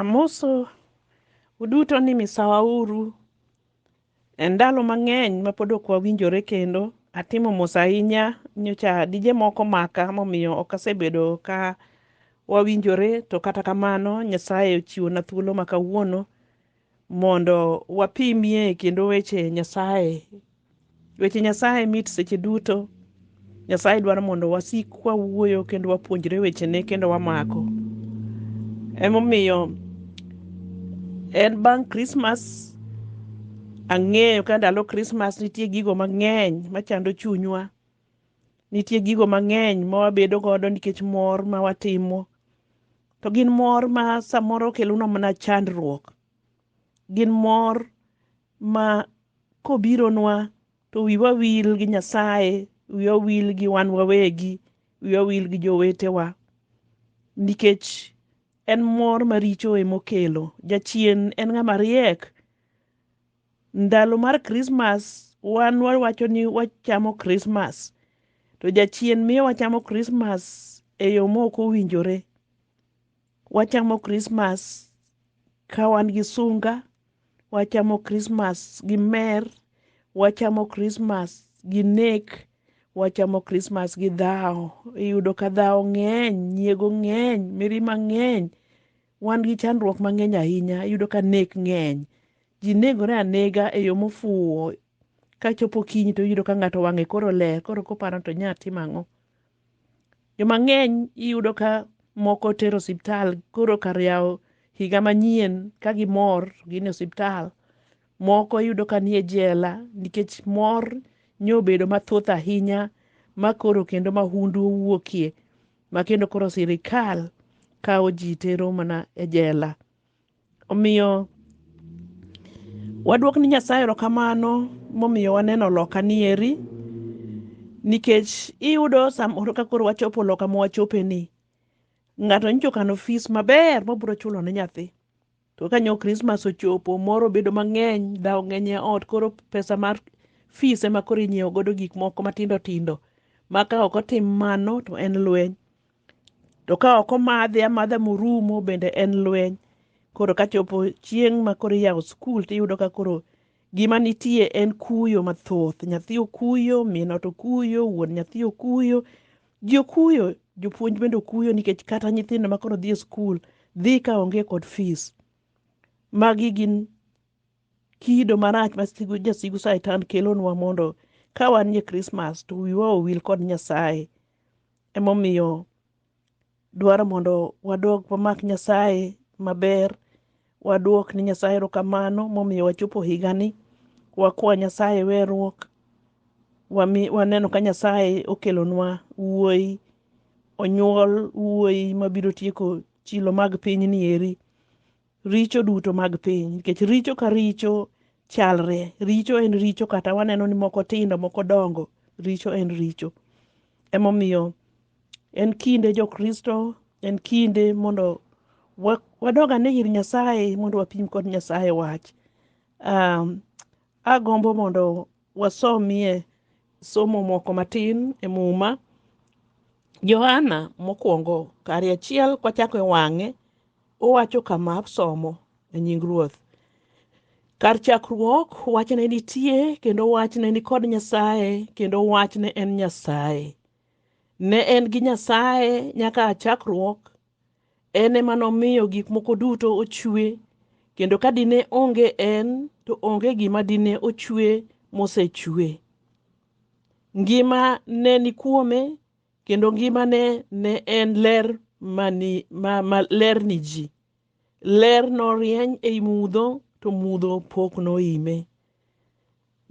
Amoso uduto ni misawa uru. E ndalo mang'eny ma pod ok wawinjore kendo, atimo mos ahinya nyocha dije moko maka momiyo ok asebedo ka wawinjore to kata kamano Nyasaye ochiwona thuolo ma kawuono mondo wapimie kendo weche Nyasaye. Weche Nyasaye mit seche duto. Nyasaye dwaro mondo wasik wawuoyo kendo wapuonjre wechene kendo wamako. Emomiyo en bang' Krismas ang'eyo ka ndalo Krismas nitie gigo mang'eny machando chunywa Nitie gigo mang'eny ma wabedo godo nikech mor ma watimo. To gin mor ma samoro kelonwa mana chandruok. Gin mor ma kobironwa to wiwa wil gi Nyasaye, wiwa wil gi wan wawegi, wiwa wil gi jowetewa. Nikech en mor maricho emokelo. Jachien en ng'ama riek ndalo mar Christmas wan wawacho ni wachamo Christmas to jachien miyo wachamo Christmas e yo mok owinjore. Wachamo Christmas ka wan gi sunga, wachamo Christmas gi mer, wachamo Christmas gi nek, wachamo Christmas gi dhawo. Iyudo ka dhawo ng'eny, nyiego ng'eny, mirima ng'eny. Wan gi chandruok mang'eny ahinya. Iyudo ka nek ng'eny. Ji negore anega e yo mofuwo. Ka chopo okinyi to iyudo ka ng'ato wang'e koro ler, koro koparo ni to onyalo timo ang'o. Joma ng'eny iyudo ka moko tero osiptal koro kar yawo higa manyien ka gimor to gin e osiptal. Moko iyudo ka nie jela nikech mor nyo obedo mathoth ahinya ma koro kendo mahundu owuokie. ma kendo koro sirikal kawo ji tero mana e jela omiyo waduok ni nyasaye erokamano momiyo waneno loka ni eri nikech iyudo samoro ka koro wachopo loka mowachopeni ng'ato nyicho kano fis maber mobiro chulo ne nyathi To ka nyo Christmas ochopo, mor obedo mang'eny, dhaw ng'eny e ot, koro pesa mar fees ema koro inyiewo godo gik moko matindo tindo. Ma ka ok otim mano to en lweny. To ka ok omadhe amadha morumo bende en lweny. Koro ka chopo chieng' ma koro iyawo skul tiyudo ka koro gima nitie en kuyo mathoth. Nyathi okuyo, min ot okuyo, wuon nyathi okuyo, Ji okuyo, jopuonj bende okuyo nikech kata nyithindo ma koro dhi e skul dhi ka onge kod fees. Magi gin kido marach ma sigu, jasigu Satan kelonwa mondo ka wanie Krismas to wiwa owil kod Nyasaye. Emomiyo dwaro mondo wadog wamak Nyasaye maber, waduok ni Nyasaye erokamano momiyo wachopo higani, wakwa Nyasaye weruok, waneno ka Nyasaye okelonwa wuoyi, onyuol wuoyi mabiro tieko chilo mag pinyni eri. richo duto mag piny nikech richo ka richo chalre richo en richo kata waneno ni moko tindo moko dongo richo en richo emomiyo en kinde jokristo en kinde mondo wadog ane ir nyasaye mondo wapim kod nyasaye wach um, agombo mondo wasomie somo moko matin e muma johana mokwongo kari achiel kwachako e wang'e Owacho kama somo e nying Ruoth. Kar chakruok, wach ne nitie, kendo wach ne ni kod Nyasaye, kendo wach ne en Nyasaye. Ne en gi Nyasaye nyaka a chakruok, en ema nomiyo gik moko duto ochwe, kendo ka dine onge en, to onge gima dine ochwe mosechwe. Ngima ne ni kuome, kendo ngimane ne en ler mani, ma, ma ler ni ji. Ler norieny ei mudho, to mudho pok noime.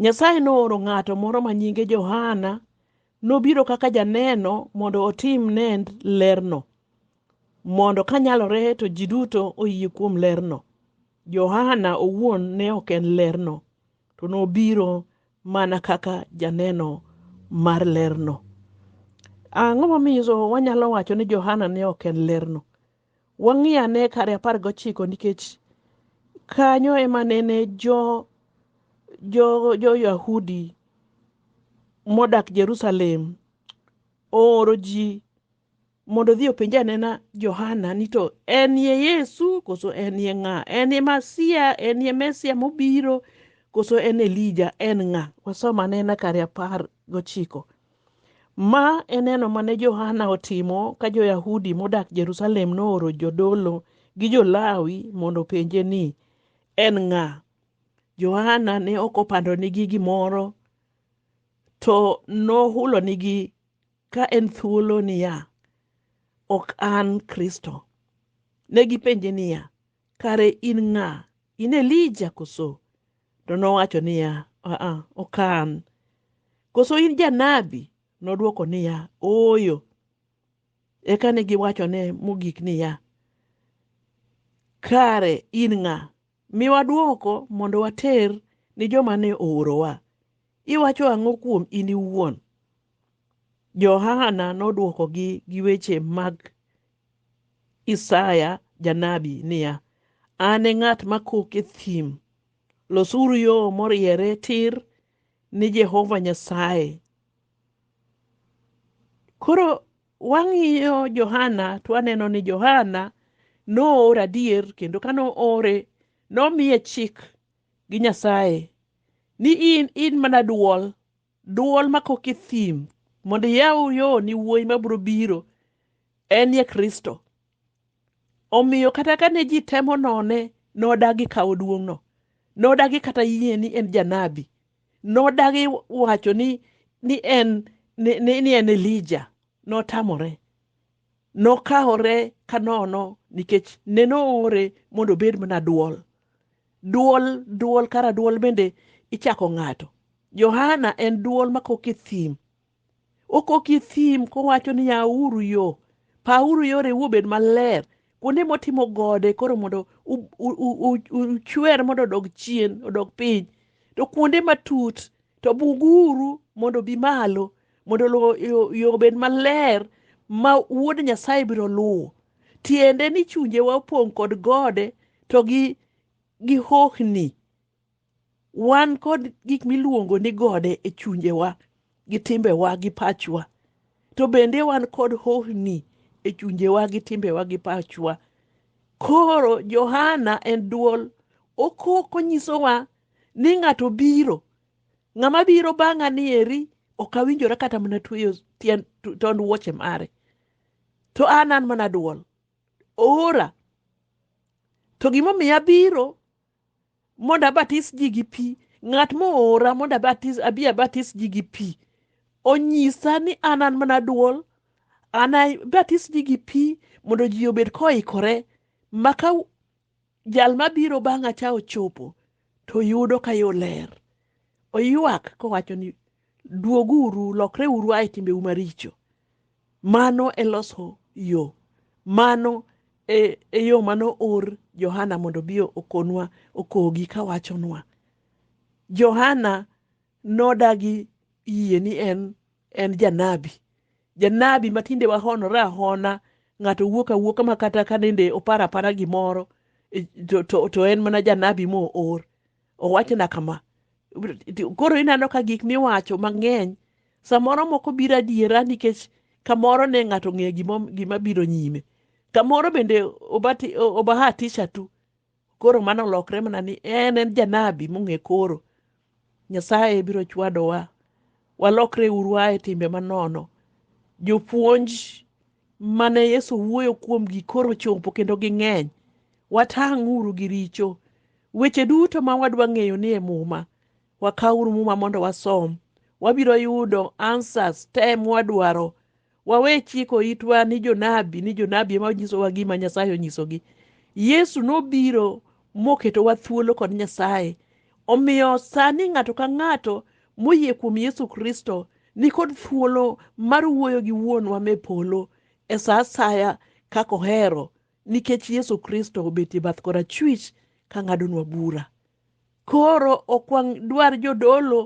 Nyasaye nooro ng'ato moro ma nyinge Johana, nobiro kaka janeno mondo otim nend lerno, mondo kanyalore to ji duto oyie kuom lerno. Johana owuon ne ok en lerno, to nobiro mana kaka janeno mar lerno. Ang'o momiyo wanyalo wacho ni Johana ne ok en lerno? Wang'i ane kare apar gochiko nikech kanyo ema nene jo jo jo Yahudi modak Jerusalem ooro ji mondo odhi openj anena Johana ni to en ye Yesu koso en ye ng'a? En ye Masia, en ye Mesia mobiro koso en Elija, en ng'a? Wasom anena kare apar gochiko. Ma en neno mane Johana otimo ka jo-Yahudi modak Jerusalem nooro jodolo gi jo-Lawi mondo openje ni, en ng'a? Johana ne ok opandonigi gimoro, to nohulonigi ka en thuolo niya, Ok an Kristo. Ne gipenje niya, Kare in ng'a? In Elija koso? To nowacho niya, Aa, ok an. Koso in janabi? Nodwoko niya, Ooyo. Eka ne giwachone mogik niya, Kare in ng'a? Miwa dwoko mondo water ni joma ne oorowa. Iwacho ang'o kuom in iwuon? Johana nodwokogi gi weche mag Isaya janabi niya, An e ng'at makok e thim, losuru yo moriere tir ni Jehova Nyasaye. Koro Wang'iyo Johana to waneno ni Johana noor adier kendo ka noore nomiye chik gi Nyasaye ni in in mana duol duol makok e thim mondo iyaw yo ni wuoyi mabiro biro en ye Kristo. Omiyo kata ka ne ji temo none, nodagi kawo duong'no. Nodagi kata yie ni en janabi. Nodagi wacho ni, ni, en, ni, ni, ni en Elija. Notamore. Nokawore ka nono nikech ne noore mondo obed mana duol. Duol, duol, kara duol bende ichako ng'ato. Johana en duol makok e thim. Okok gi thim kowacho ni yauru yo, pauru yore ubed maler. Kuonde motimo gode koro mondo uchwer mondo odog chien, odog piny. To kuonde matut to buguru mondo obi malo, mondo yo obed maler ma Wuod Nyasaye biro luwo. Tiende ni chunjewa opong' kod gode to gi, gi hohni wan kod gik miluongo ni gode e chunjewa gi timbewa gi pachwa to bende wan kod hohni e chunjewa gi timbewa gi pachwa koro johana en duol okok onyisowa ni ng'ato biro ng'ama biro bang'a ni eri ok awinjora kata mana tweyo tien- to- tond wuoche mare to an an mana duol oora to gimomiyo abiro mondo abatis ji gi pi ng'at moora mondo abatis abi abatis ji gi pi onyisa ni an an mana duol an abatis ji gi pi mondo ji obed koikore maka jal mabiro bang'a cha ochopo to yudo ka yo ler oywak kowacho ni Duoguru, lokreuru ae timbeu maricho. Mano e loso yo. Mano e, e yo mano or Johana mondo bi okonwa okogi kawachonwa. Johana nodagi yie ni en en janabi. Janabi matinde wahonore ahona ng'ato wuok awuoka ma kata ka nende opara para gimoro e, to, to, to en mana janabi moor. owachona kama koro ineno ka gik miwacho mang'eny samoro moko biro adiera nikech kamoro ne ng'ato ng'eyo gima biro nyime kamoro bende obahatisha tu koro mano olokre mana ni en en janabi mong'e koro nyasaye biro chwadowa walokre uru ae timbe manono jopuonj mane Yesu wuoyo kuomgi koro chopo kendo ging'eny. Watang'uru gi richo. Weche duto ma wadwa ng'eyo ni e Muma. Wakawuru Muma mondo wasom. Wabiro yudo answers te mwadwaro. Wawe chiko itwa ni jonabi ni jonabi ema onyisowa gima Nyasaye onyisogi. Yesu nobiro moketowa thuolo kod Nyasaye Omiyo sani ng'ato ka ng'ato moyie kuom Yesu Kristo nikod thuolo mar wuoyo gi Wuonwa me polo e sa asaya kaka ohero nikech Yesu Kristo obet e bath korachwich ka ng'adonwa bura. Koro ok wadwar jodolo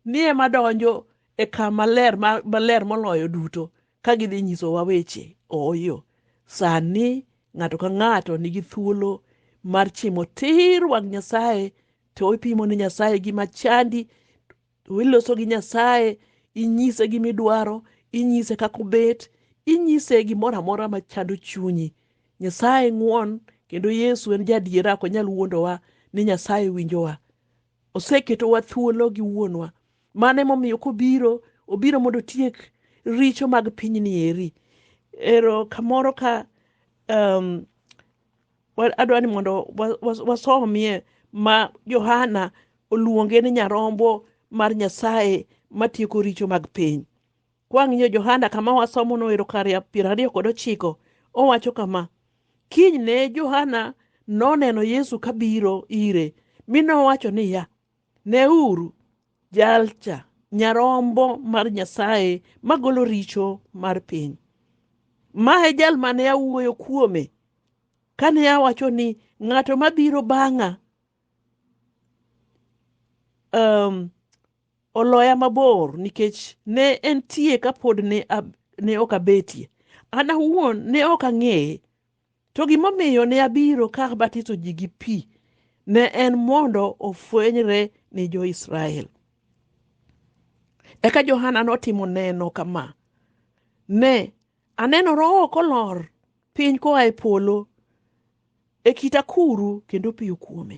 ni ema donjo e kama ler maler moloyo duto. Ka gidhi nyisowa weche, ooyo. Sani ng'ato ka ng'ato nigi thuolo mar chimo tir wang' Nyasaye, to ipimo ne Nyasaye gima chandi, to iloso gi Nyasaye, inyise gima idwaro, inyise kaka obet, inyise gimoro amora ma chando chunyi. Nyasaye ng'won kendo Yesu en jadiera ok onyal wuondowa ni Nyasaye winjowa. Oseketowa thuolo gi wuonwa. Mano emomiyo kobiro, obiro mondo otiek richo mag pinyni eri. Ero kamoro ka um, adwa ni mondo wasomie ma Johana oluonge ni nyarombo mar Nyasaye matieko richo mag piny. Kwang'iyo Johana kama wasomono e Rokaria piero ariyo kod ochiko, owacho kama, Kinyne Johana noneno Yesu kabiro ire, mi nowacho niya, Neuru, jalcha, nyarombo mar Nyasaye magolo richo mar piny. Ma e jal mane awuoyo kuome kane awacho ni ng'ato mabiro bang'a um, oloya mabor nikech ne entie ka pod ne, ab, ne ok abetie. An awuon ne ok ang'eye. To gimomiyo ne abiro ka abatiso ji gi pi ne en mondo ofwenyre ni jo-Israel. Eka Johana notimo neno kama, Ne, aneno Roho kolor piny koa e polo e kit akuru kendo piyo kuome.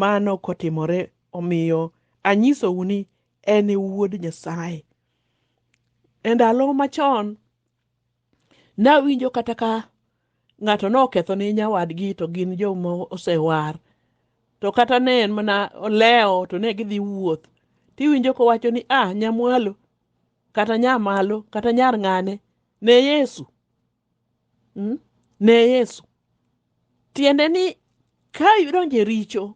Mano kotimore omiyo anyisou ni en e Wuod Nyasaye. E ndalo machon, nawinjo kata ka ng'ato noketho ne nyawadgi to gin joma osewar to kata ne en mana olewo to ne gidhi wuoth tiwinjo kowacho ni ah nyamwalo kata nyamalo kata nyar ng'ane ne yesu ne Yesu. Tiende ni ka idonjo e richo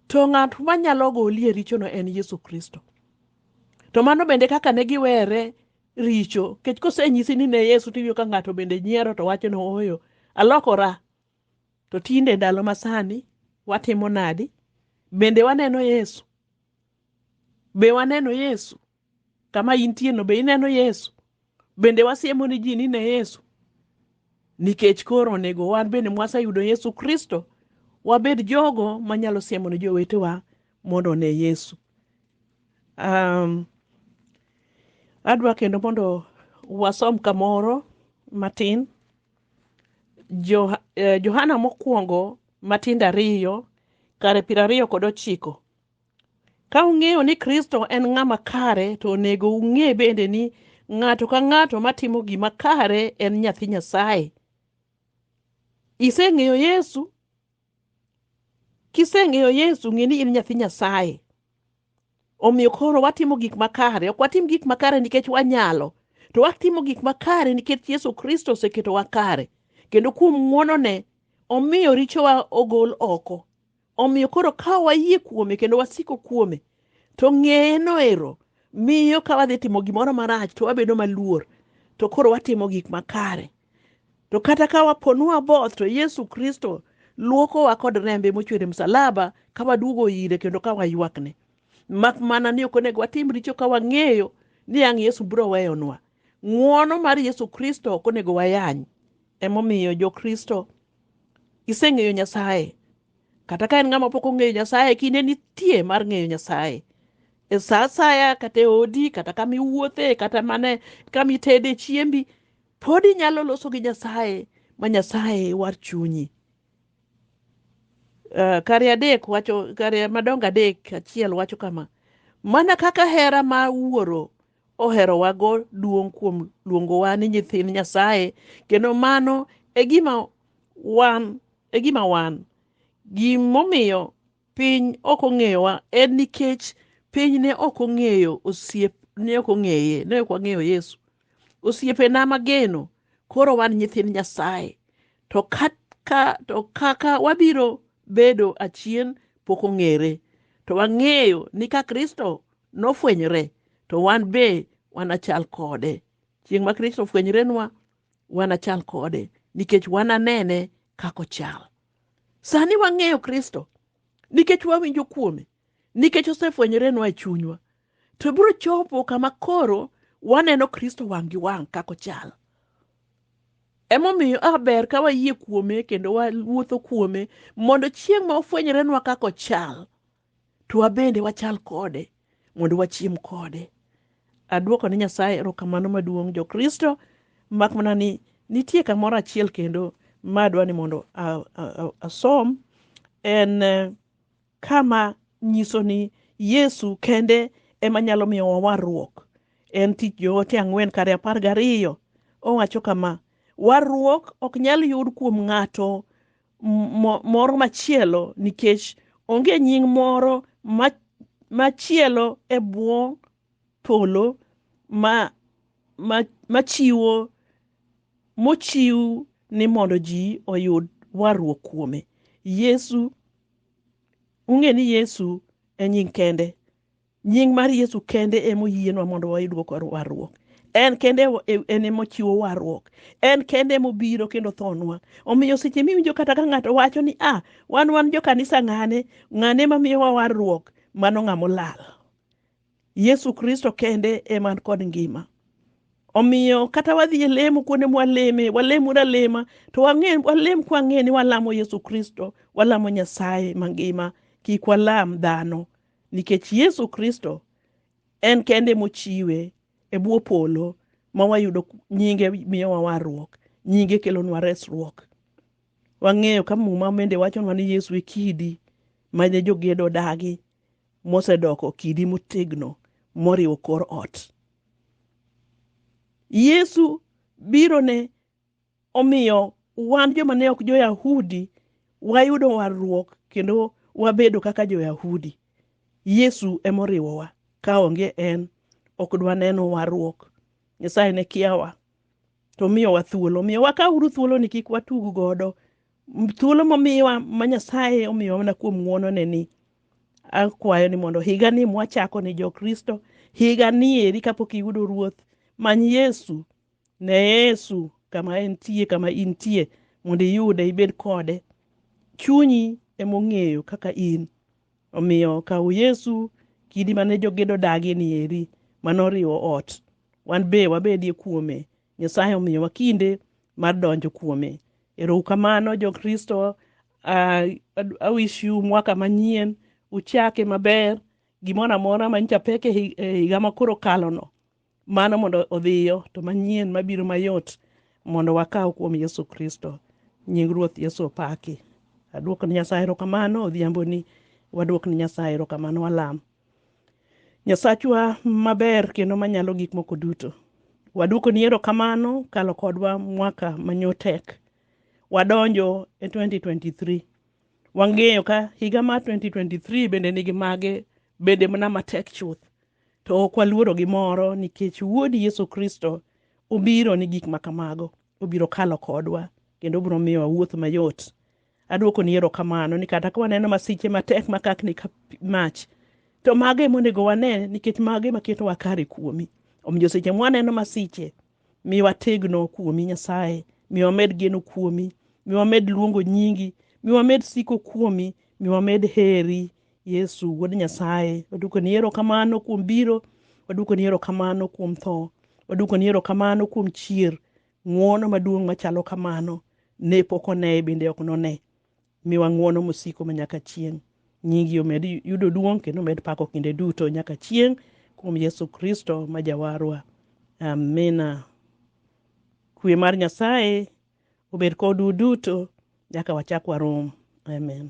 to ng'at manyalo goli e richono en Yesu Kristo. To mano bende kaka ne giwere richo kech kosenyisi ni ne Yesu tiwinjo ka ng'ato bende nyiero to wacho ni ooyo alokora. To tinde ndalo masani watimo nadi? Bende waneno Yesu? Be waneno Yesu? Kama intieno be ineno Yesu? Bende wasiemo ni ji ni ne Yesu? Nikech koro onego wan bende mwaseyudo Yesu Kristo, wabed jogo manyalo siemo ni jowetewa mondo one Yesu. Um, adwa kendo mondo wasom kamoro matin jo, eh, Johana mokwongo matindo ariyo kare piero ariyo kod ochiko Ka ung'eyo ni Kristo en ng'ama kare, to onego ung'e bende ni ng'ato ka ng'ato matimo gima kare en nyathi Nyasaye. Iseng'eyo Yesu? Kiseng'eyo Yesu, ng'e ni in nyathi Nyasaye. Omiyo koro watimo gik makare, ok watim gik makare nikech wanyalo, to watimo gik makare nikech Yesu Kristo oseketowa kare, kendo kuom ng'wonone omiyo richowa ogol oko. Omiyo koro ka wayie kuome kendo wasiko kuome, to ng'eye noero miyo ka wadhi timo gimoro marach to wabedo maluor, to koro watimo gik makare. To kata ka waponu waboth, to Yesu Kristo luokowa kod rembe mochwer e msalaba ka waduogo ire kendo ka waywakne. Mak mana ni ok onego watim richo ka wang'eyo ni ang' Yesu biro weyonwa. Ng'wono mar Yesu Kristo ok onego wayany. Emomiyo Jokristo iseng'eyo nyasaye kata ka en ng'ama pok ong'eyo nyasaye kinde nitie mar ng'eyo nyasaye e sa asaya kata e odi kata kama iwuothe kata mane kama itede chiembi pod inyalo loso gi nyasaye ma nyasaye war chunyi uh, kare adek wacho kare madongo adek achiel wacho kama mana kaka hera ma wuoro oherowago duong' kuom luongowa ni nyithind Nyasaye kendo mano e gima wan e gima wan gimomiyo piny ok ong'eyowa en nikech piny ne ok ong'eyo osiep ne ok ong'eye ne ok wang'eyo Yesu osiepena mageno koro wan nyithind Nyasaye to kaka to kaka wabiro bedo achien pok ong'ere to wang'eyo ni ka Kristo nofwenyre to wan be wanachal kode chieng' ma kristo ofwenyrenwa wanachal kode nikech wananene kaka ochal sani wang'eyo kristo nikech wawinjo kuome nikech osefwenyrenwa e chunywa to biro chopo kama koro waneno kristo wang' gi wang' kaka ochal emomiyo aber ka wayie kuome kendo wawuotho kuome mondo chieng' ma ofwenyrenwa kaka ochal to wabende wachal kode mondo wachiem kode. Adwoko ne Nyasaye erokamano maduong' Jokristo, mak mana ni nitie kamoro achiel kendo ma adwa ni mondo asom en eh, kama nyiso ni Yesu kende ema nyalo miyo wawarruok. En tich joote ang'wen kare apar gariyo. Owacho kama, warruok ok nyal yud kuom ng'ato moro machielo nikech onge nying moro machielo e bwo polo ma machiwo mochiw ni mondo ji oyud warruok kuome yesu ung'e ni yesu e nying kende Nying mar Yesu kende ema oyienwa mondo wayud warruok. En kende e, en ema ochiwo warruok. En kende ema obiro kendo thonwa. Omiyo seche miwinjo kata ka ng'ato wacho ni a ah, wan wan jo kanisa ng'ane, ng'ane ma miyowa warruok, mano ng'ama olal. Yesu Kristo kende ema an kod ngima. Omiyo kata wadhi e lemo kuonde mwaleme, walem una lema, to wang'e walem kwang'e ni walamo Yesu Kristo, walamo Nyasaye mangima, kik walam dhano. nikech Yesu Kristo en kende mochiwe e bwo polo ma wayudo nyinge miyowa warruok, nyinge kelonwa resruok. Wang'eyo ka muma bende wachonwa ni Yesu e kidi mane jogedo odagi mosedoko kidi motegno moriwo kor ot. Yesu biro ne Omiyo wan joma ne ok jo-Yahudi wayudo warruok kendo wabedo kaka jo-Yahudi. Yesu emoriwowa, ka onge en ok dwaneno warruok. Nyasaye ne kiawa to miyowa thuolo. Omiyo wakauru thuoloni kik watug godo. Thuolo momiwa ma Nyasaye omiyowa mana kuom ng'wonone ni akwayo ni mondo higa ni mwachako ni jo-Kristo, higa ni eri kapok iyudo Ruoth, many Yesu Ne Yesu kama entie, kama intie, mondo iyude, ibed kode. Chunyi emong'eyo kaka in. Omiyo kaw Yesu kidi mane jogedo odagie ni eri, mane oriwo ot. Wan be wabedie kuome. Nyasaye omiyowa kinde mar donjo kuome. Erou kamano jo Kristo. Uh, I wish you mwaka manyien. Uchake maber. Gimoro amora manyicha pek e higa makoro kalono. mano mondo odhiyo to manyien mabiro mayot mondo wakaw kuom yesu kristo nying ruoth yesu opaki aduok ni nyasaye erokamano odhiambo ni waduok ni nyasaye erokamano walam nyasachwa maber kendo manyalo gik moko duto waduoko ni erokamano kalo kodwa mwaka manyotek wadonjo e 2023 wang'eyo ka higa mar 2023 bende nigi mage bende mana matek chuth To ok waluoro gimoro nikech Wuodi Yesu Kristo obiro ni gik ma kamago. Obiro kalo kodwa kendo obiro miyo wawuoth mayot. Adwokoni erokamano ni kata ka waneno masiche matek makakni ka mach, to mago ema onego wane nikech mago ema ketowa kare kuomi. Omiyo seche mwaneno masiche, mi wategno kuomi Nyasaye, mi wamed geno kuomi, mi wamed luongo nyingi, mi wamed siko kuomi, mi wamed heri Yesu wuod Nyasaye, waduko ni erokamano kuom biro, waduko ni erokamano kuom tho, waduko ni erokamano kuom chier. Ng'wono maduong' machalo kamano ne pok one bende ok none. Miwa ng'wono mosiko ma nyaka chieng'. Nyingi omed yudo duong' kendo omed pako kinde duto nyaka chieng' kuom Yesu Kristo ma Jawarwa. Amina. Kwe mar Nyasaye obed kodu duto nyaka wachak warom. Amen.